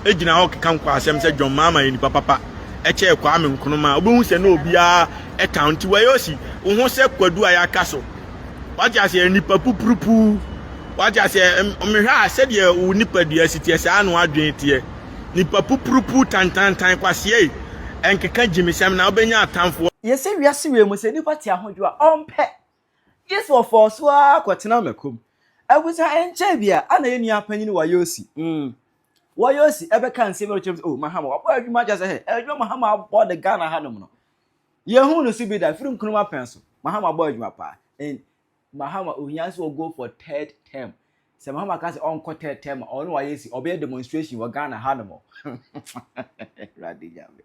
gyina hɔ keka nkwasɛm sɛ John Mahama yɛ nipa papa kyɛɛ Kwame Nkrumah a, wobɛhu sɛ na obiara tan nti wɔyɛ osi wo ho sɛ kwadu a yɛaka so. Wate aseɛ nipa pupurupuu. Wate aseɛ mehwɛ a sɛdeɛ wo nipadua si teɛ saa na wadwene teɛ. Nipa pupurupuu tantantan kwaseɛ yi ɛnkeka gyimesɛm na wobɛnya atamfoɔ. Yɛsɛ wiase wei mu sɛ nipa te ahodwoɔ a ɔmpɛ Gye sɛ ɔfɔw so ara kɔtena Mako mu, efisɛ ɛnkyɛe biara na yɛn nua panyin Wayosi, mm, Wayosi bɛkaa nsɛm bi a ɔkyerɛ mu sɛ, Oh, Mahama, wabɔ adwuma akyɛ sɛ, hɛ, adwuma Mahama abɔ de Ghana hanom no, yɛnhuu no so bi da, firi Nkrumah pɛn so. Mahama abɔ adwuma paa. And Mahama, ohia sɛ ɔgo for third term. Sɛ Mahama ka sɛ ɔnkɔ third term a, ɔno Wayosi, ɔbɛyɛ demonstration wɔ Ghana hanom. Awurade Nyame.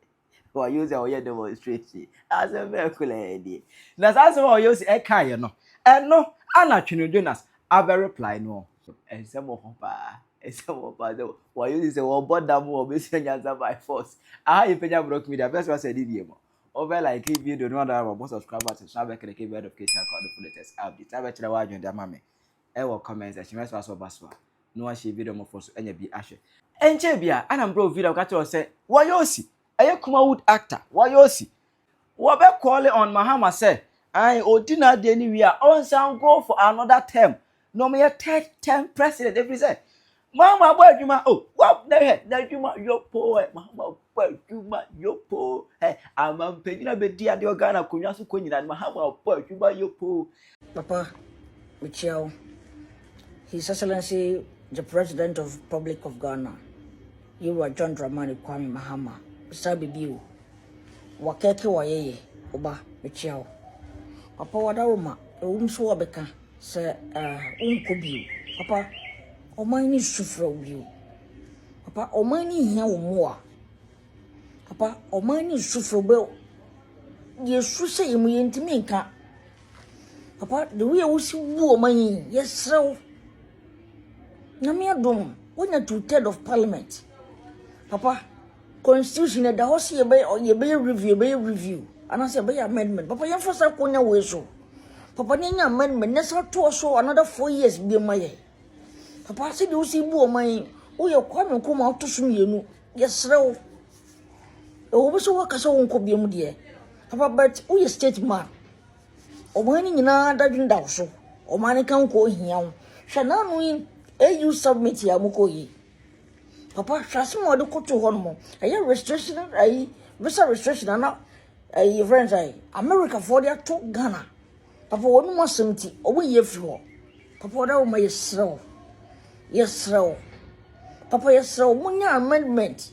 wɔayɛ o sɛ wɔyɛ demonstration asɛm bɛɛ koraa nie na saa asɛm a wɔyɛ o sɛ ɛkaeɛ no ɛno ana Twene Jonas abɛ reply no ɔ ɛnsɛm wɔ hɔ paa ɛnsɛm wɔ hɔ paa sɛ wɔayɛ o sɛ wɔbɔ dam wɔbɛsua nyansa by force aha yɛ pɛnya brɔk media bɛsɛ wasɛ ne bie mu wɔbɛ like video no ana wɔbɔ subscribe button so abɛkɛrɛkɛ bɛ notification akɔ no full latest update abɛkyerɛ wɔ adwene de ama me wɔ comment section mɛsoa so ɔba so a na wahyɛ video mɔfoɔ so anya bi ahwɛ. Ɛnkyɛɛ bia ana bro Vira ɔka kyerɛ wo sɛ wɔyɛ osi ɛyɛ Kumawood actor wɔyɛ osi wɔbɛ call on Mahama sɛ ae ɔdi n'adeɛ no wie a ɔnsan go for another term na ɔmyɛ third term president ɛfiri sɛ Mama bɔ adwuma o wɔ na hɛ n'adwuma yɔ poo ɛ mama bɔ adwuma yɔ poo ɛ ama mpanyina bɛdi adeɛ wɔ Ghana akonnwa so kɔ nyina no mahama bɔ adwuma yɔ poo. Papa, mekyia wo. His Excellency the President of Republic of Ghana, Yewura John Dramani Kwame Mahama, mesaa biribi o. Wakɛke wayɛyɛ, wo ba, mekyia wo. Papa wadawoma, ɛwom so wɔbɛka. Sɛ ah, wonkɔ bio. Papa, ɔman no su frɛ wo bio. Papa, ɔman no hia wo mmoa. Papa, ɔman no su frɛ wo bio. Yɛsu sɛ yɛ mu yɛntumi nka. Papa, the way a wosi bu ɔman yi, yɛsrɛ wo. Nyame adom, wonya two-third of parliament. Papa, Constitution ɛda hɔ sɛ yɛbɛyɛ yɛbɛyɛ review yɛbɛyɛ review anaasɛ yɛbɛyɛ amendment papa yɛmfa saa konya wei so papa ne nya amendment ne sa toɔ so another four years bi ma yɛ papa sɛ deɛ wosi bu ɔman yi woyɛ kwame nkrumah woto so mmienu yɛserɛ wo ɛwɔ bi sɛ woaka sɛ wonkɔ bia mu deɛ papa but woyɛ state man ɔman no nyinaa dadwene da wo so ɔman no ka nkɔ ohia wo hwɛ n'ano yi au summit a mokɔ yi papa hwɛ asɛm a wɔde koto hɔ nom ɛyɛ restriction ayi visa restriction ana ɛyɛ fɛn sɛ america foɔ de ato ghana papa wɔn mu asɛm ti wɔn yie firi hɔ papa wɔn awoma yɛ serɛw yɛ serɛw papa yɛ serɛw mo nya amendment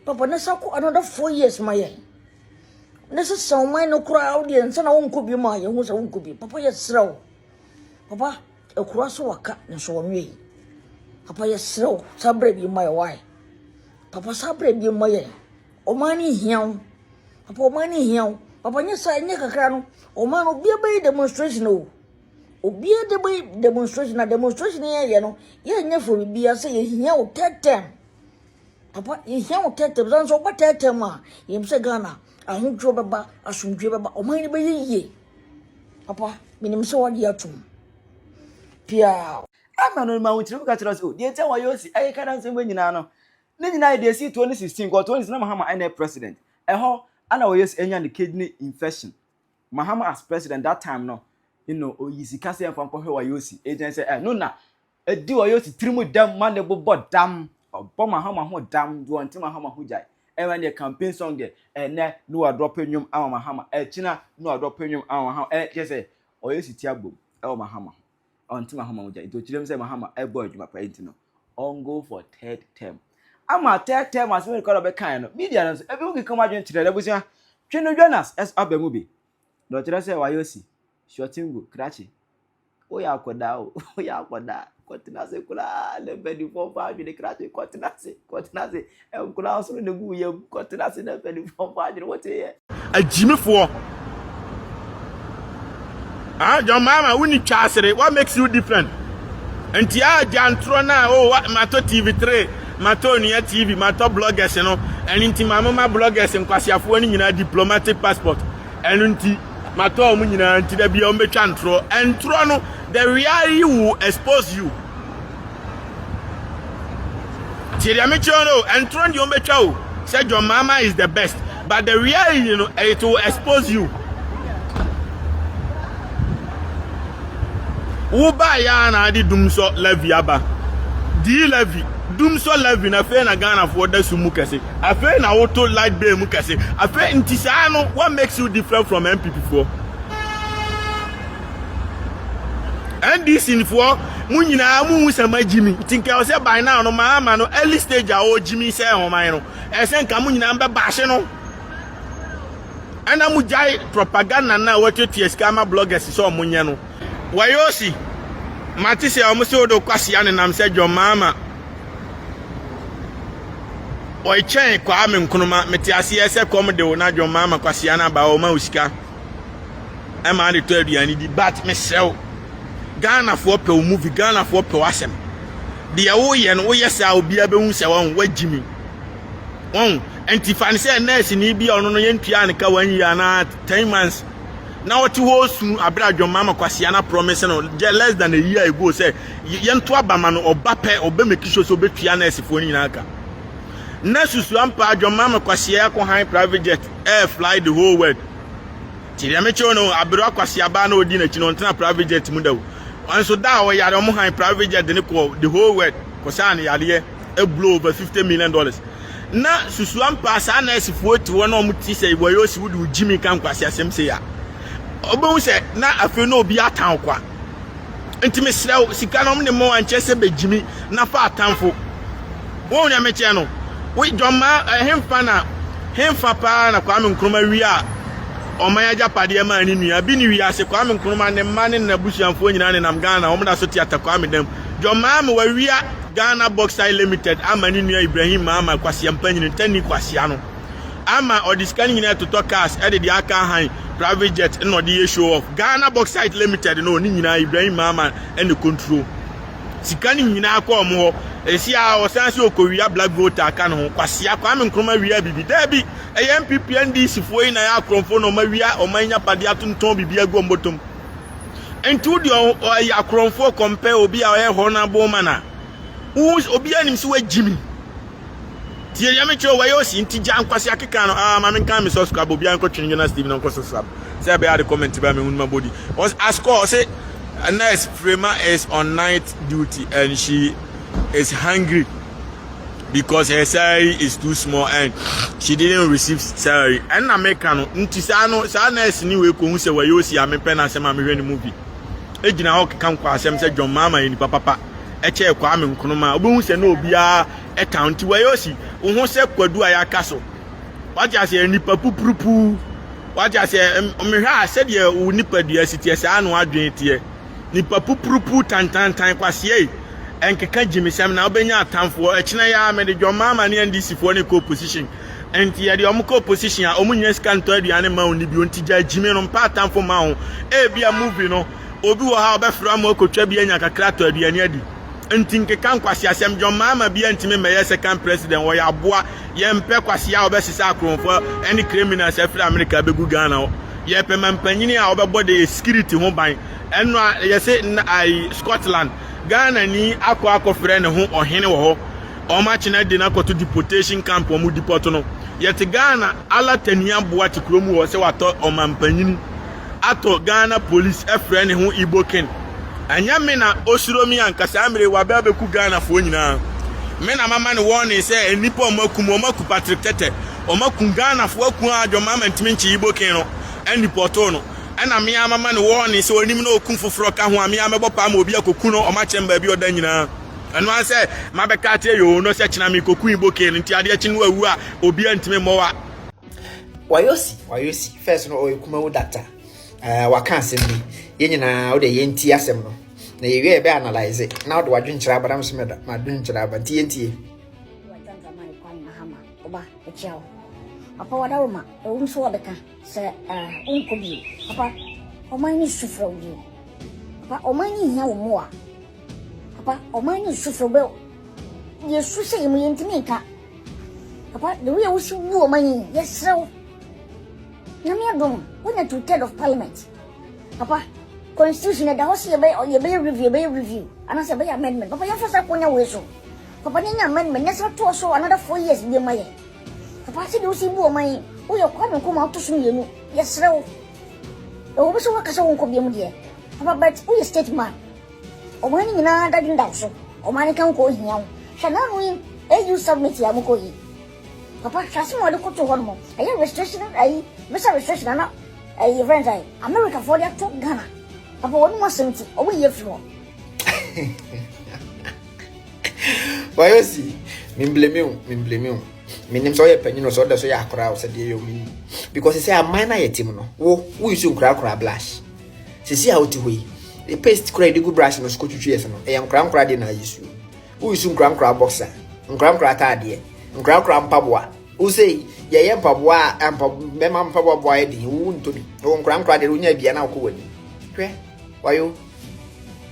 papa ne sa kɔ another four years ma yɛn ne sɛ sɛ ɔman no koraa wodeɛ nsa na wonkɔ bi mu a yɛhu sɛ wonkɔ bi papa yɛ serɛw papa Akura so waka nso wɔnwe yi. Papa yɛsrɛ wo saa berɛ bi mma yɛ wae. Papa saa berɛ bi mma yɛ. Ɔman no hia wo. Papa ɔman no hia wo. Papa nyɛ saa nyɛ kakra no. Ɔman no obiara bɛyɛ demonstration o. Obiara de bɛyɛ demonstration na demonstration yɛ yɛ no yɛnyɛ for biribiara sɛ yɛhia wo tɛtɛm. Papa yɛhia wo tɛtɛm sɛ nso ɔba tɛtɛm a yɛm sɛ Ghana ahodwoɔ bɛba asomdwoe bɛba ɔman no bɛyɛ yie. Papa, menim sɛ wɔde atom. Piaw. Ɛma no ma wotiri ka kyerɛ sɛ o, deɛ nti a wɔayɛ osi ɛyɛ ka dansɛm wɔ nyinaa no. Ne nyinaa yɛ deɛ ɛsi 2016 kɔ 2016 na Mahama ɛna president. Ɛhɔ ana wɔyɛ sɛ ɛnya ne kidney infection. Mahama as president that time no, you know, oyi sika sɛ ɛmfa nkɔhwɛ wɔayɛ osi. Ɛgyɛn sɛ ɛno na Edi ɔyɛ osi tiri mu dɛm ma ne bo bɔ dam, ɔbɔ mahama ho dam, do ɔnntse mahama ho gyae. Ɛma neɛ campaign song deɛ, ɛnɛ no wadrɔpe nwom ama mahama, ɛkyina no wadrɔpe nwom ama mahama, ɛɛ kyerɛ sɛ ɔyɛ osi ti abom ɛwɔ mahama ho, ɔnntse mahama ho gyae, nti okyerɛ mu sɛ mahama ɛbɔ adwuma paa nti no ɔn go for third term. Ama third term asɛm no kora ɔbɛkaeɛ no, media no nso ebinom keka wɔn adwene kyerɛ no, abusua, twe no Jonas ɛso aba mu bi, na ɔkyerɛ sɛ wayɛ osi. Shuatengo, krakye. Woyɛ akwadaa o, woyɛ akwadaa. Kɔtena ase koraa na mpanimfoɔ mfa adwene krakye. Kɔtena ase, kɔtena ase. Nkwadaa soro na egu wo yam. Kɔtena ase na mpanimfoɔ mfa adwene. Woteeɛ? Agyimifoɔ. Ah, John Mahama, wonni twasere. What makes you different? Nti a gyantorɔ no a, oh, matɔ TV3, matɔ onua TV, matɔ bloggers no. Ɛno nti ma moma bloggers nkwasiafoɔ no nyinaa diplomatic passport. Ɛno nti. Matɔ wɔn nyinaa nti da bia wɔn bɛtwa ntorɔ. Ntorɔ no, the reality will expose you. Tie deɛ mekyerɛ no o, ntorɔ no deɛ wɔn bɛtwa o. Sɛ John Mama is the best, but the reality no, it will expose you. Wo ba ya na adi dum sɔ levy aba. Di levy, dum sɔ levy na fei na Ghana foɔ da sum mu kɛse. Afei na wo to light bill mu kɛse afei nti saa no what makes you different from NPP foɔ? NDC foɔ mo nyinaa mo hu sɛ ma gyimi nti nka ɛsɛ by now no maa ma no early stage a ɔwɔ gyimi sɛ ɔman no ɛsɛ nka mo nyinaa mbɛ baahye no ɛna mo gyae propaganda na wɔtuatua sika ama bloggers sɛ ɔmo nyɛ no. Wayosi, mate sɛ wɔn se wodo kwasia ne nam sɛ John Mahama ɔkyɛn Kwame Nkrumah. Mete aseɛ sɛ kɔm de wo na John Mahama kwasia no aba ɔma wo sika ɛma ade tɔ aduane di. But mesrɛ wo, Ghanafoɔ pɛ wo movie, Ghanafoɔ pɛ wo asɛm. Deɛ woyɛ no woyɛ saa obiara bɛhu sɛ wɔn wagyi mi. Wɔn nti fa ne sɛ nɛɛsini bi a ɔno no yɛntua ne ka wɔn yie anaa ten months. na ɔte hɔ resu abere a dwammaa ma kwasea no aprɔmese no gyɛ less than a year ago sɛ yɛnto aba ma no ɔba pɛ ɔbɛ make sure sɛ ɔbɛtua nɛɛsefoɔ no nyinaa ka na susu ampa dwammaa ma kwasea akɔ han private jet air fly the whole world nti deɛ mekyɛw no abere akwasea baa na ɔdi n'akyi no ɔntena private jet mu da o nso da a ɔyare ɔmo han private jet de ne kɔ the whole world kɔsaa ne yareɛ blow over fifty million dollars na susu ampa saa nɛɛsefoɔ eti hɔ na wɔn ti sɛ wɔyɛ osi wode o gyimi ka nkwasi asɛm sɛ ya ɔbɛhu sɛ na afei na obi atan kwa nti mesrɛ wo sika no ɔmo ne mmoa nkyɛ sɛ bɛgyimi na fa atanfo wɔn na mekyɛ no wo dwɔma ɛhemfa eh, na hemfa paa na kwame nkroma wie a ɔman agyapadeɛ maa ne nua bi ne wiase kwame nkroma ne mma ne n'abusuafoɔ nyinaa nenam ghana wɔn da so te atakwa me dam dwɔmaa me wawia Ghana Bauxite Limited ama ne nua Ibrahim Maama Kwaseampanyini Tanni Kwasea no ama ɔde sika no nyinaa retotɔ cars de deɛ aka ahan private jet na ɔde yɛ show off. Ghana Bauxite Limited no ne nyinaa Ibrahim Maama na control. Sika no nyinaa kɔ wɔn hɔ. Ɛsi a ɔsan se ɔkɔwia black vote aka ne ho. Kwasea, Kwame Nkrumah wia bibi. Daabi, ɛyɛ NPP NDC foɔ yi na ɛyɛ akorɔmfoɔ na wɔawia wɔn anyapadeɛ atontɔn biribi agu wɔn bɔtɔm. Nti wo deɛ ɔyɛ akorɔmfoɔ compare obi a ɔyɛ hɔ no abom ma na obiara nim sɛ wagyi mi nti yɛdeɛ mekyerɛ wɔyɛ osi nti gya nkwase akeka no aa ma menka me subscribe obiara nkɔtwene Jonas TV no nkɔ subscribe sɛ ɛbɛyɛ ade comment bɛa mehu no mabɔdi askɔ ɔse nurse Frema is on night duty and she is hungry because her salary is too small and she didn't receive salary ɛnna meka no nti saa no saa nurse ni wei kohun sɛ wɔyɛ osi ame pɛ na asɛm a mehwɛ ne movie egyina hɔ keka nkɔ asɛm sɛ john maama yɛ nipa papa ɛkyɛ ɛkɔ ame nkonoma obehu sɛ na obiara ɛta nti wɔyɛ osi ohun sɛ kwadu a yɛaka so wate aseɛ nipa pupurupuu wate aseɛ mehwɛ a sɛdeɛ wo nipadua si teɛ saa no adwene teɛ Nipa pupurupuu tantantan kwaseɛe ɛnkeka gyimisɛm na wobɛnya atamfoɔ ɛkyena yi ara mede John Mahama ne NDC foɔ ne kɔ opposition nti yɛde wɔn kɔ opposition a wɔn nnya sika ntɔ aduane mma wo nni bio nti gyaa gyimi no mpa atamfo mma wo ebia movie no obi wɔ ha ɔbɛfrɛ ama wakɔtwa bi anya kakra atɔ aduane adi. nti nkeka nkwaseasɛm John Mahama bia ntimi mmɛyɛ second president wɔyɛ aboa yɛmpɛ kwasea a wɔbɛsesa akoromfo ɛne criminals afiri America bɛgu Ghana hɔ yɛpɛ ma mpanyini a wɔbɛbɔ de security ho ban ɛno a yɛse ai Scotland Ghana ni akɔ akɔfrɛ ne ho ɔhene wɔ hɔ wɔn akyena di no akɔto deportation camp wɔn deport no yɛte Ghana ala tania boa te kurom wɔ sɛ watɔ ɔmampanyini atɔ Ghana police ɛfrɛ ne ho Iboken ɛnyɛ me na osuro me anka saa mmere wabɛ abɛku Ghana foɔ nyinaa me na mama no warning sɛ nnipa ɔmo aku mu ɔmo aku Patrick Tɛtɛ ɔmo aku Ghana foɔ aku aa dwom mama ntumi nkye Iboken no ɛnipɔtoo no ɛna me aa mama no warning sɛ onim na oku foforɔ ka ho a me aa mɛbɔ paa ma obi akoku no ɔmo akyɛ me baabi ɔda nyinaa ɛno aa sɛ mabɛka akyerɛ yoo no sɛ kyena me kɔku Iboken no nti adeɛ kye no wawu a obiaa ntumi mmɔ wa. wayosi wayosi first no ɔyɛ kumawu data ɛɛ waka asɛm bi yɛn nyinaa wode yɛn ti asɛm no na yɛwie yɛbɛ analyze na wode wadwenkyerɛ aba na mesɛ mɛda madwenkyerɛ aba nti yɛntie apa wada wo ma ɛwom so wɔbɛka sɛ wonkɔ bio apa ɔman ne su frɛ wo bio apa ɔman ne hia wo mmoa apa ɔman ne su frɛ wo bɛ yɛsu sɛ yɛmu yɛntumi nka Papa, the way wusi gu wɔn anyi, yɛsrɛ wo. Nyame adom, wonya two third of parliament. Papa, constitution ɛda hɔ sɛ yɛbɛyɛ yɛbɛyɛ review, yɛbɛyɛ review, anaasɛ yɛbɛyɛ amendment. Papa, yɛmfa saa konya wei so. Papa, ne nya amendment, na sɛ toɔ so another four years bi ma yɛ. Papa, sɛdeɛ wosi bu wɔn anyi, woyɛ Kwame Nkrumah woto so mmienu, yɛsrɛ wo. Ɛwɔ bi sɛ woakasa wo nkɔ biam deɛ, papa, but woyɛ state man. Ɔman no nyinaa dadwendam so, ɔman no ka wo kɔ hia wo. Hwɛ nano yi AU summit yi a ɔmo kɔ yi. Papa hwɛ asem a ɔde koto hɔ nom. Ɛyɛ restriction ayi visa restriction ana ɛyi yɛfrɛ no sɛn. America foɔ de ato Ghana. Papa wɔn nom asem nti ɔmo yi afiri hɔ. Wayɛ si, me blame wo, me blame wo. Me nim sɛ ɔyɛ panyin o, sɛ ɔda so yɛ akora o, sɛ deɛ yɛ o, me nim. Because sɛ aman no ayɛ tim no, wo, wo nsu nkora akora blush. Seesei a wote hɔ yi, ne paste koro a yɛde gu brush no so kotwitwi yɛn se no, ɛyɛ nkorankora ade na ayɛ suu. Woresu nkorankora boxer, nkorankora ataadeɛ, nkorankora mpaboa. Wo sɛ yi, yɛyɛ mpaboa a mpa, mmarima mpaboa boa yɛ den, wo ntɔ bi. Wɔ nkorankora deɛ, wonya bia na wokɔ w'anim. Hwɛ, wayo.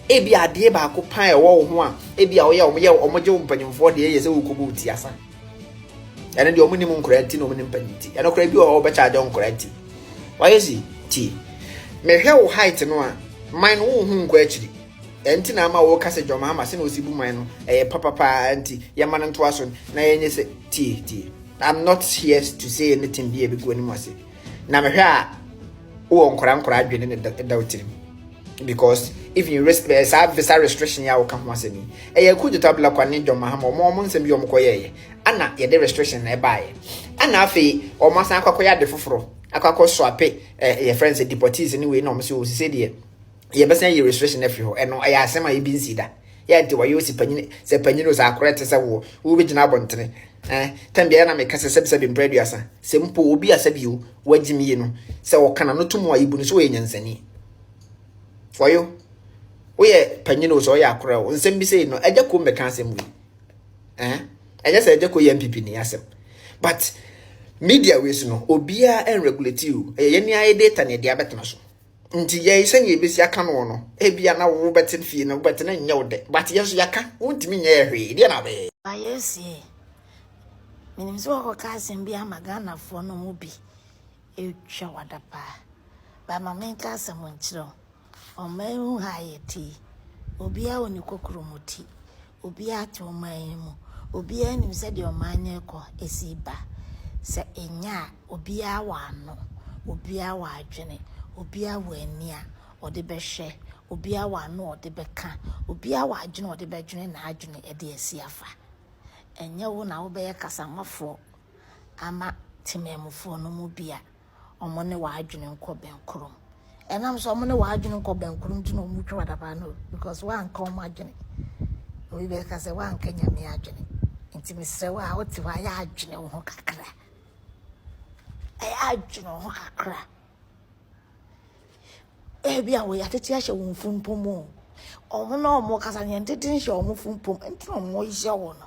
Ebi adeɛ baako paa ɛwɔ wo ho a, ebi a woyɛ, wɔyɛ, wɔgye wo mpanyinfoɔ deɛ yɛ sɛ worekɔbɔ wo ti asa. ɛno deɛ ɔmo nim nkora nti na ɔmo nim panyin ti ɛno kora bi wɔ hɔ ɔbɛkyɛ agye nkora nti wayɛ si ti mehwɛ wo height no a man no wohu nkɔ akyiri ɛnti na ama wo kasa dwom ama sɛ na osi bu man no ɛyɛ papapaa nti yɛma no ntoa so na yɛnyɛ sɛ tie tie i'm not here to say anything bi a ebi gu anim ase na mehwɛ a wowɔ nkora nkora adwene ne da wo tirim because even risk bɛyɛ saa visa restriction yɛ a wɔka ho asɛm yi ɛyɛ kudeta blakwa ne john mahama wɔn wɔn nsɛm bi wɔn kɔyɛɛyɛ ana yɛde restriction na ɛbaeɛ ana afei wɔn asan akɔ akɔyɛ ade foforɔ akɔ akɔ so ape ɛɛ yɛ friends deportees ne wei na wɔn sɛ wɔn sise deɛ yɛbɛsan yɛ restriction afiri hɔ ɛno ɛyɛ asɛm a ebi nsi da yɛ nti wɔyɛ osi panyin sɛ panyin o sɛ akorɛ te sɛ woɔ wobɛgyina abɔntene ɛɛ tɛm biara na meka sɛ sɛbisɛbi mpere aduasa sɛ mpo obi asɛbi o wagyimi yi no sɛ ɔkana no to mu a ebu no so wɔyɛ nyansani For you. Woyɛ panyin o sɛ ɔyɛ akora o. Nsɛm bi sei no, ɛgya kom bɛka asɛm wei. Eh? Ɛnyɛ sɛ ɛgya ko yɛ MPP ni asɛm. But media wei so no, obiara ɛnregulate o. Ɛyɛ yɛn ayɛ data na ɛde abɛtena so. Nti yɛn sɛnea ebesi aka no no, ebia na wobɛte fie na wobɛte na nyɛ wo dɛ. But yɛn so yɛaka, wontumi nyɛ yɛ hwee. Deɛ na bɛyɛ. Ba yɛsie. Menim sɛ wɔkɔka asɛm bi ama Ghanafoɔ no mu bi. Ɛretwa wada paa. Ba ma menka asɛm nkyerɛ wo. Ɔman yi ho ha a yɛte yi, obiara wɔ ne kokuromoti. Obiara te ɔman yi mu. Obiara nim sɛ deɛ ɔman no rekɔ ɛsi ba. Sɛ ɛnyɛ a, obiara wɔ ano. Obiara wɔ adwene. Obiara wɔ ani a ɔde bɛhwɛ. Obiara wɔ ano a ɔde bɛka. Obiara wɔ adwene a ɔde bɛdwene n'adwene de asi afa. Ɛnyɛ wo na wobɛyɛ kasamafoɔ ama temanmufoɔ no mu bi a wɔn ne w'adwene nkɔ bɛnkorom. Ɛnam sɛ wɔn ne w'adwene nkɔ bɛnkorom nti na wɔn twa wadaba no because woanka wɔn adwene. Obi bɛka sɛ woanka nyame adwene. Nti mesrɛ wo a wote hɔ a yɛ adwene wo ho kakra. Ɛyɛ adwene wo ho kakra. Ebi a wɔyɛ atete ahyɛ wɔn funpom o. Wɔn na wɔn kasa yɛn tete nhyɛ wɔn funpom nti na wɔyɛ wɔn no.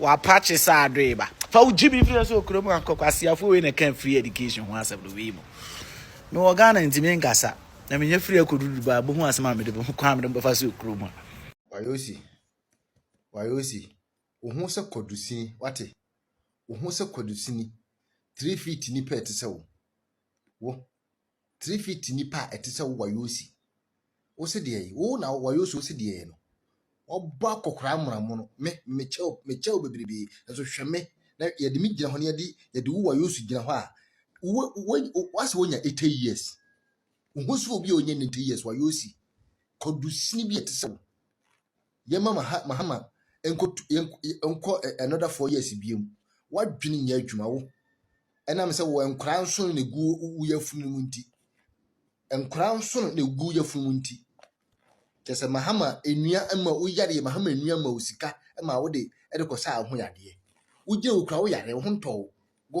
W'apakye sɛ adoe ba. Fa wo gyimi firi ase wɔ kurom ankɔ kwaseafoɔ wei na ɛka free education ho asɛm no wei mu. Me wɔ Ghana nti me nkasa. Na menyɛ free akɔ dudu ba bohu asɛm a mede bohu kwan mede bɛfa so kurom a. Wayosi wayosi wo ho sɛ kwadusini wate wo ho sɛ kwadusini three feet nipa ɛte sɛ wo wo. Three feet nipa a ɛte sɛ wo wayosi. Wo se deɛ yi, wo na wayosi wo se deɛ yi no. Wɔbɔ akɔkora mmoramo no, me mekyɛ wo mekyɛ wo bebrebe. Nso hwɛ me na yɛde me gyina hɔ na yɛde yɛde wo wayosi gyina hɔ a wo wo wase wonya 80 years. Wo ho so obi a ɔnyɛ 90 years wayosi. Kɔdusini bi a ɛte sɛ wo. Yɛmma Maha Mahama nkɔtu yɛn nkɔ ɛ another four years biom. W'adwene nyɛ adwuma wo. Ɛnam sɛ wɔ nkwadaa nsono na egu wo yafunu no mu nti. Nkwadaa nsono na egu yafunu mu nti. Kyɛ sɛ Mahama nnua ma wo yadeɛ, Mahama nnua ma wo sika ma wode ɛde kɔsa ho yadeɛ. Wogyina wo kura wo yareɛ, wo ho ntɔ wo. Go.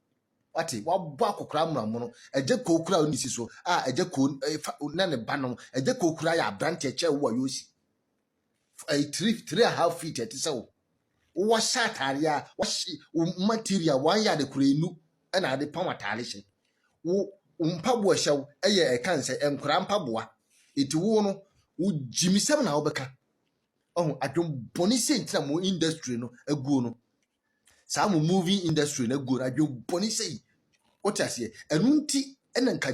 Wate, wabɔ akokora mmonamono. Agya Koo kura ne si so. A, agya Koo eh, fa, na ne ba no. Agya Koo kura yɛ aberanteɛ kyɛ wo a yɛsi. Eh, three, three and a half feet ɛte sɛ wo. Wɔhyɛ ataare a, wɔhyɛ wo material, wɔn yɛ ade kora enu ɛna ade pam ataare hyɛ. Wo, wo mpaboa hyɛ wo, ɛyɛ ɛka nsɛ, nkora mpaboa. Eti wo no, wo gyimisɛm na wobɛka. Ɔho, adwembɔne sɛ ntina mo industry no aguo no. saa mo movie industry na gu no adwembɔne sɛ yi wote aseɛ ɛno nti ɛna nka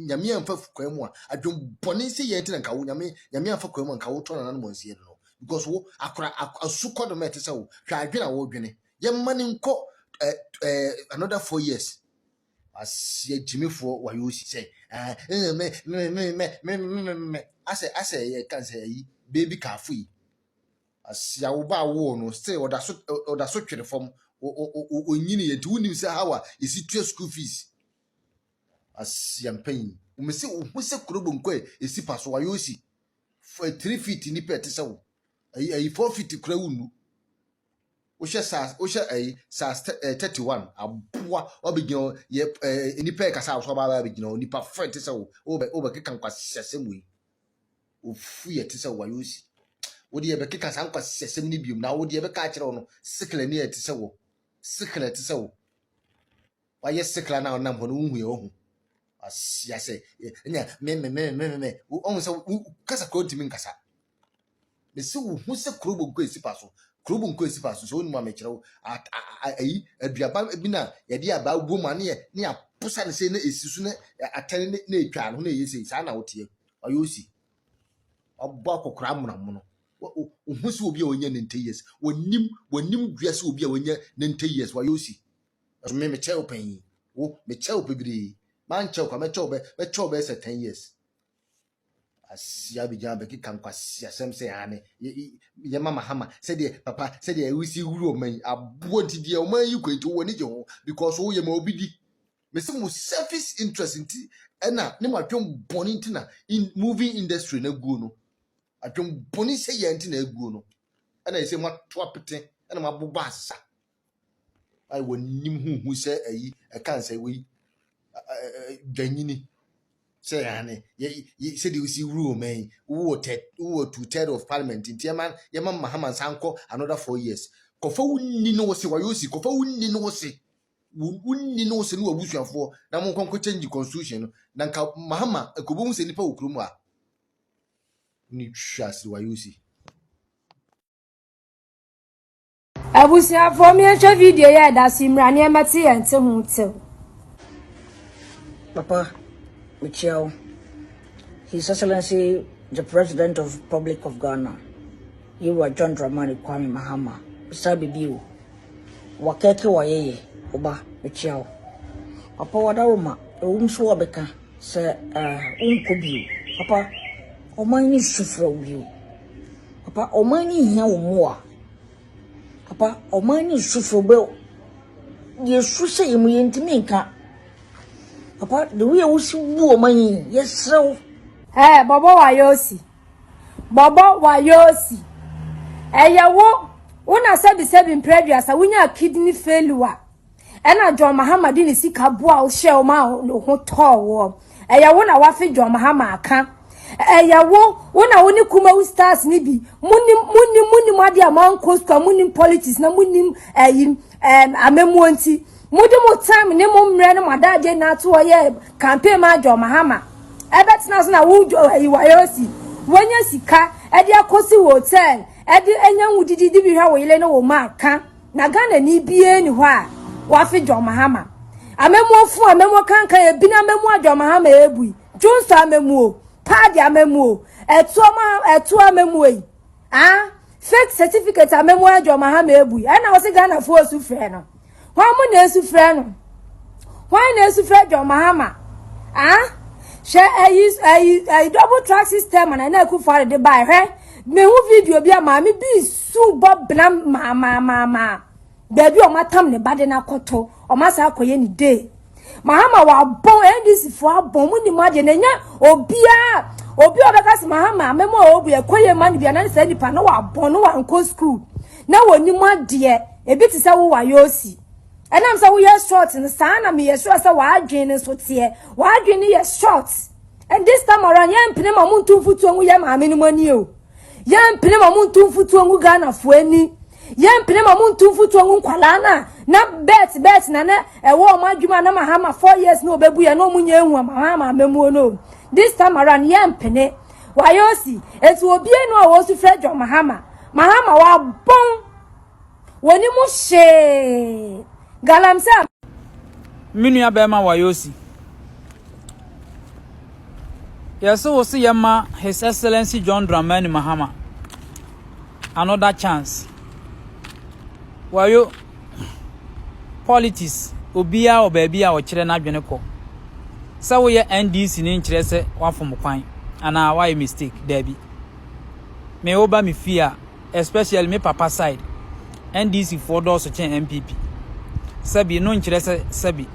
nyame amfa kwan mu a adwembɔne sɛ yɛ nti na nka wo nyame nyame amfa kwan mu a nka wotɔ nananom ansie no because wo akora asu kɔ do ma ɛte sɛ wo hwɛ adwene a wodwene yɛmma no nkɔ eh, eh, another four years aseɛ gyimifoɔ wayɛ osi sɛ asɛ asɛ yɛ kan sɛ ayi beebi kaafo yi Asia wo ba a wowɔ no still ɔda so ɔda so twere fam ɔnyini yɛ nti wonim sɛ how a yɛsi tua school fees asia mpanyin wɔn sɛ wɔn sɛ kuro bonko a esi pa so ayɛ osi for three feet nipa ɛte sɛ wo ayi ayi four feet kura wo nu wohyɛ saa wohyɛ ayi saa eh, thirty one aboa ɔbɛgyina yɛ eh, nipa yɛ kasa a wɔsɔ ɔbaa bɛgyina nipa fɛ ɛte sɛ wo wobɛ wobɛkeka nkwasiasɛm wei ofu yɛ te sɛ wayɛ osi wode yɛbɛkeka saa nkwasisɛsɛm no biom na wode yɛbɛka akyerɛ wo no sekla ni a ɛte sɛ wɔ sekla ɛte sɛ wo wayɛ sekla no a wonam hɔ no wohu yɛ wahu asia sɛ ɛnyɛ memememememe ɔhu sɛ kasa kuro ntumi nkasa mese wo hu sɛ kurobo nkɔ ɛsi pa so kurobo nkɔ ɛsi pa so sɛ wonim a mekyerɛ wo ayi aduaba bi no a yɛde abaa wom a ne yɛ ne yɛaposa no sɛ na ɛsi so na atɛne na ɛtwa no na ɛyɛ sei saa na woteɛ ɔyɛ osi. Ɔbɔ akɔkora amonamono. Ohu sɛ obi a ɔnyɛ ninety years. Wɔnim wɔnim dua sɛ obi a ɔnyɛ ninety years wɔyɛ osi. Ɛso me mekyɛ wo panyin. Wo mekyɛ wo bebree. Mankyɛ wo kwa mɛkyɛ wo bɛ mɛkyɛ wo bɛyɛ sɛ ten years. Asia bɛgyina bɛkeka nkwasiasɛm sɛ ane yɛ mama hama sɛdeɛ papa sɛdeɛ ɛwisi wuru ɔman yi aboɔ nti deɛ ɔman yi kɔ nti wɔn ani gye ho because woyɛ ma obi di Mese mo selfish interest nti ɛna ne mo adwen bɔne nti na in movie industry na guo no adwen bɔne sɛ yɛ nti na aguo no ɛna ɛsɛ mo ato apete ɛna mo abobɔ asa a wɔnim huhu sɛ ayi ɛka nsɛ wei dwanyini sɛ yɛane sɛdeɛ wosi wuru ɔma yi wowɔ two third of parliament nti ɛma yɛma mahama nsa nkɔ another four years kɔfa wo nni no wo se wayɛ osi kɔfa wo nni no wo se wonni ne wo sɛ ne w'abusuafoɔ na monkɔ nkɔ change constitution no na nka mahama ɛkɔbɛhu sɛ nnipa wɔ kurom a ne hwɛ ase wayɛ osi abusuafoɔ miɛnhwɛ video yɛ ɛda so mmira nneɛma te yɛn te ho tew papa mekyia wo his excellency the president of republic of ghana yewa john dramani kwame mahama saa biribi o Wɔkɛkɛ wɔyɛyɛ wo ba mekyia wo. Papa wada wo ma ewom so wɔbeka sɛ eh wonkɔ bio. Papa ɔman no su frɛ wo bio. Papa ɔman no hia wo mmoa. Papa ɔman no su frɛ wo yɛsu sɛ yɛ mu yɛntumi nka. Papa the way a wosi bu ɔman yi yɛsrɛ wo. Ɛɛ bɔbɔ wayɛ osi Bɔbɔ Wayosi, ɛyɛ wo wo na sɛbisɛbi mprɛ aduasa wonyaa kidney failure ɛna John Mahama de ne sika boa wo hyɛɛ wo ma wo ho tɔɔ woɔ. Ɛyɛ wo na wafe John Mahama aka. Ɛyɛ wo wo na wo ne Kumawu stars ne bi monim monim monim adeɛ a moankɔ sukuu a monim politics na monim ɛyi ɛm amamuo nti Mode mo time ne mo mmerɛ ne mo adagye nyinaa ato hɔ yɛ campaign ma John Mahama. Ɛbɛtena ase na wo John ayi wayosi, wanya sika ɛde akɔsi wo hotel ɛde anya wo didi de bi hwɛ wo yere ne wo mma ka. Na Ghanani biara ni hɔ a wafe John Mahama. Amammuo fo amammuo kankan ebi na amammuo a John Mahama ebui. Dwonsɔ amammuo, paadi amammuo, ɛtoɔ ma ɛtoɔ amammuo yi. Ah, fake certificate amammuo a John Mahama ebui. Ɛna ɔsi Ghana fo osu frɛ no. Hwan mo na esu frɛ no? Hwan na esu frɛ John Mahama? Ah? Hwɛ ayi ayi ayi double track system na na eku fare de bae hwɛ. Me hu video bi a maame bi su bɔ bena ma ma ma ma. Baabi a wɔatam ne ba de no akɔto, wɔn asa akɔyɛ ne day. Mahama wabɔn NDC fo abɔn mu ni mu adeɛ na nya obiara obi a ɔbɛka sɛ Mahama mɛma a ɔbu ɛkɔ yɛ ma no bia na ne saa nipa na wabɔn no wankɔ sukuu na wɔni mu adeɛ ebi te sɛ wo wayɛ osi ɛnam sɛ woyɛ short no saa na meyɛ sure sɛ wadwen no nso teɛ wadwen no yɛ short and this time around yɛmpene ma monto mfutuo ngu yɛ maame no mu ani o Yɛmpene ma ɔmo ntu mfutuo ngu Ghanafoɔ ani. Yɛmpene ma ɔmo ntu mfutuo ngu nkwadaa no a na bet bet na na ɛwɔ ɔmo adwuma a na Mahama four years na ɔbɛbu yɛ na ɔmo nyɛ ehu Mahama amammuo no. This time around yɛmpene. Wayɛ osi. Eti obiara ni hɔ a ɔresu frɛ John Mahama. Mahama wabɔn. Wɔne mu hyee galamsey. Me nua bɛrima Wayosi, yɛse wo se yɛma His Excellency John Dramani Mahama another chance. Wayo, politics, obiara wɔ baabi a ɔkyerɛ n'adwene kɔ. Sɛ woyɛ NDC ne nkyerɛ sɛ wafom kwan anaa wayɛ mistake, daabi. Me wo ba me fie a, especially me papa side NDC foɔ dɔɔso kyɛn NPP sɛbi no nkyerɛ sɛ sɛbi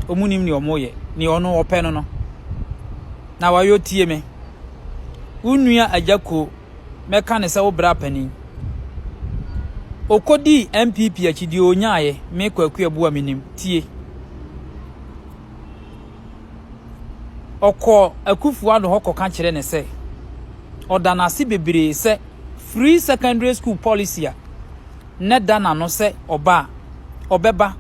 ɔmu nim nea ɔmo yɛ nea ɔno ɔpɛ no no na wayɔ tie me wo nua agya kuo mɛka ne sɛ wo bra panin ɔkɔdii NPP akyi deɛ ɔnyaeɛ me kwaku abua menim tie ɔkɔɔ Akufo-Addo hɔ kɔka kyerɛɛ no sɛ ɔda no ase bebree sɛ Free Secondary School Policy a na ɛda n'ano sɛ ɔba a ɔbɛba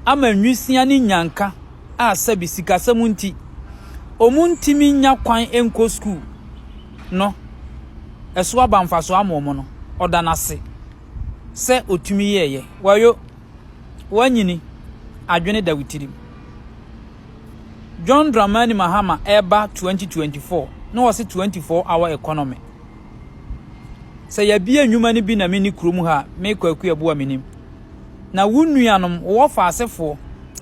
ama nwisiaa ne nyanka a sɛbi sikasɛm nti wɔntumi nnya kwan nkɔ sukuu no ɛso aba mfaso ama wɔn no, ɔda no ase sɛ otumi yɛeɛ. Wayo, woanyini, adwene da wo tirim. John Dramani Mahama ɛreba 2024 na wɔse 24 hour economy. Sɛ yɛbie nnwuma no bi na meni kurom ha me kwaku ɛboa menim. Na wo nuanom wɔ faasefoɔ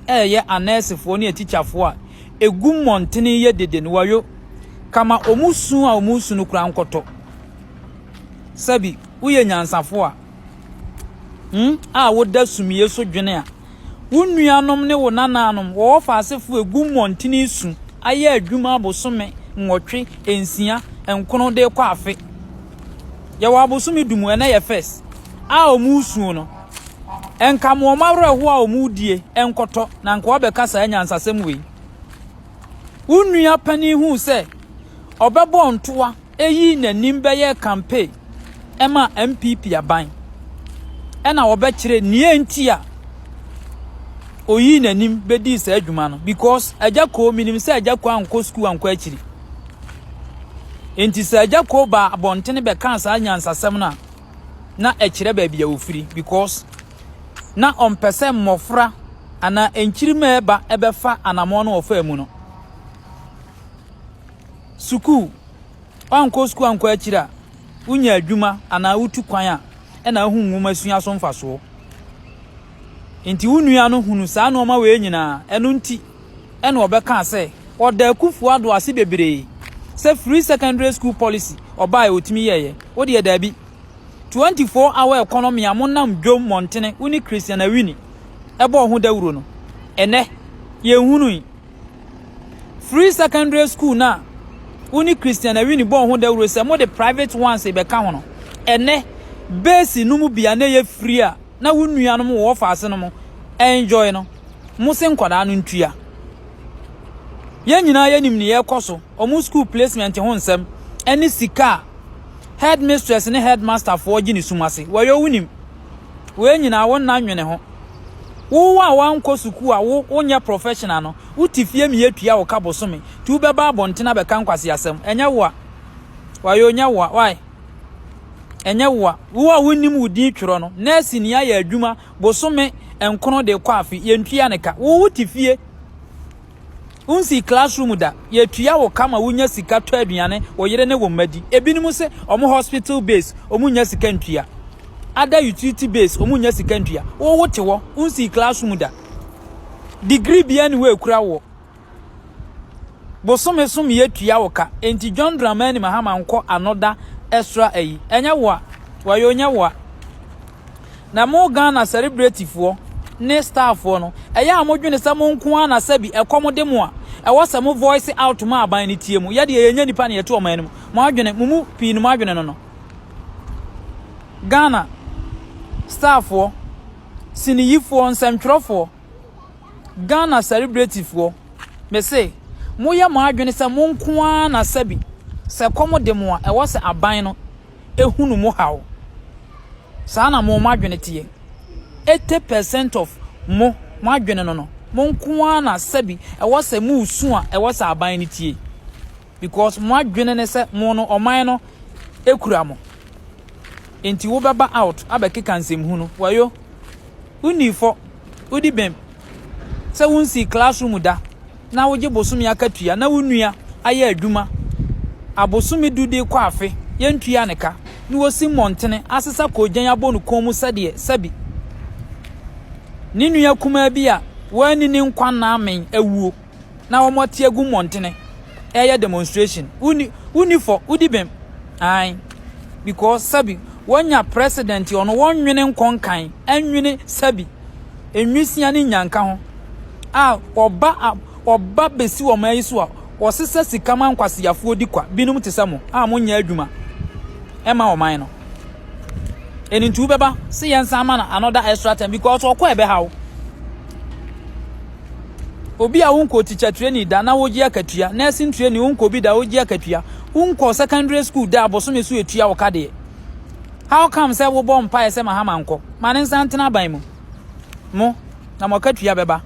ɛyɛ anɛɛsefoɔ ne atikyafoɔ a ɛgu mmɔntene yɛ dede no wayo kama ɔmu su a ɔmu su no kura nkɔtɔ. Sɛbi woyɛ nyansafoɔ a Hmm? A woda sumie so dwene a. Wo nuanom ne wo nanaanom wɔ wɔfa asefo egu mmɔntene su ayɛ adwuma abosome nwɔtwe, nsia, nkono de kɔ afe. Yɛwɔ abosome du mu, ɛnɛ yɛ first, a wɔn resuo no. Nka mo wɔn awerɛho a wɔn die nkɔtɔ na nka wɔabɛka saa nyansasɛm wei. Wo nua panin hu sɛ ɔbɛbɔ ntoa Eyi n'anim bɛyɛɛ campaign ɛma NPP aban ɛna wɔbɛkyerɛ nea nti a oyii n'anim bɛdii saa adwuma no because agya koo menim sɛ agya koo ankɔ sukuu ankɔ akyiri nti sɛ agya koo baa abɔntene bɛkaa saa nyansasɛm no a na ɛkyerɛ baabi a ofiri because na ɔmpɛ sɛ mmɔfra anaa nkyirima ɛba ɛbɛfa anamɔn no ɔfaa mu no Sukuu, Woankɔ sukuu ankɔ akyiri a, wonya adwuma anaa wotu kwan a, ɛna wohu nwoma sua so mfasoɔ. Nti wo nua no hunu saa nnoɔma wei nyinaa, ɛno nti ɛna ɔbɛkaa sɛ ɔda Akufo Addo ase bebree sɛ free secondary school policy ɔbaeɛ ɔtumi yɛeɛ, wo deɛ daabi. 24 hour economy a monam dwom mmɔntene wo ne Christian Awini ɛbɔɔ ho dawuro no, ɛnɛ yɛnhunui. Free secondary school no a wo ne Christian Awini bɔɔ ho dawuro sɛ mode private ones bɛka ho no, ɛnɛ base no mu bia na ɛyɛ free a na wo nuanom wɔ ɔfaase no mu enjoy no, mo se nkwadaa no ntua. Yɛn nyinaa yɛnim ne yɛkɔ so, ɔmo school placement ho nsɛm, ɛne sika a headmistress ne headmasterfoɔ gye ne sum ase, wɔyɛ wonim. Wei nyinaa wo nna nwene ho. Wo a woankɔ sukuu a wo wonyɛ professional no, wote fie ma yɛtua wo ka bosome, nti wobɛba abɔnten abɛka nkwaseasɛm. Ɛnyɛ wo a. Wayo, ɛnyɛ wo a. Why? Ɛnyɛ wo a. Wo a wonnim wo din twerɛ no, nɛɛse ni ayɛ adwuma bosome nkron de kɔ afe, yɛntua ne ka. Wo wote fie. Wonsii classroom da, yɛtua wo ka ma wonya sika tɔ aduane wo yere ne wo mma di. Ebinom se wɔn hospital base wɔn nnya sika ntua. Ada utility base wɔn nnya sika ntua. Wo wo te hɔ, wonsii classroom da. Degree bia ni hɔ ekura wo. Bosome so me yɛtua wo ka. Enti John Dramani Mahama nkɔ another extra ayi. Ɛnyɛ wo a, wɔyɛ onyɛ wo a. Na mo Ghana sɛrebretifoɔ ne starfoɔ no, ɛyɛ a modwene sɛ mo nko ara na sɛbi ɛkɔm de mo a, ɛwɔ sɛ mo voice out ma aban no tie mo. Yɛdeɛ yɛnyɛ nipa na yɛte ɔman no mu. Mo adwene, mo mu pii no mo adwene no no. Ghana starfoɔ, siniyifoɔ, nsɛmtwerɛfoɔ, Ghana sɛrebretifoɔ, mese, moyɛ mo adwene sɛ mo nko ara na sɛbi sɛ ɛkɔm de mo a, ɛwɔ sɛ aban no ehunu mo haw. Saa na mo, mo adwene teɛ. Eighty percent of mo, mo adwene no no, mo nko ara na sɛbi ɛwɔ sɛ mo resu a ɛwɔ sɛ aban no tie. Because mo adwene ne sɛ mo no ɔman no ekura mo. Enti wobɛba out abɛkeka nsɛmhunu. Wayo, wonni fɔ. Wodi bem sɛ wunsii classroom da na wogye bosome akatua na wo nua ayɛ adwuma a bosome du de kɔ afe yentua ne ka na wosi mmɔntene asesa koogyan abɔ no kɔn mu sɛdeɛ sɛbi ne nua kumaa bi a wanni ne nkwa nna amen awuo. na wɔn ate agu mmɔntene ɛyɛ demonstration woni woni fɔ wodi bɛm ae because sabi wɔnya president ɔno wɔnwene nkɔnkan ɛnwene sabi enwisia ne nyanka ho a ɔba ɔba besi wɔn ayi so a wɔsesa sika ma nkwaseafoɔ di kwa binom te sɛ mo a monyɛ adwuma ɛma ɔman no ɛni nti wobɛba se yɛn san ma no another extra time because ɔkɔ ɛbɛhaw Obi a wonkɔ teacher training da na wogye akatua, nursing training wonkɔ bi da wogye akatua, wonkɔ secondary school da abosome so etua wo ka deɛ. How come sɛ wobɔ mpaeɛ sɛ Mahama nkɔ? Ma ne nsa ntena aban mu. Mo, na mo akatua bɛba.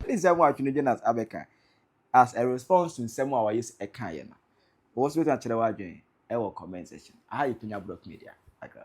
Ɛne nsɛm a Twene Jonas abɛka as a response to nsɛm a Wayes kaeɛ no. Wo nso wobɛtumi akyerɛ w'adwene wɔ comment section. Aha yɛ Pinya Brock Media. Agra.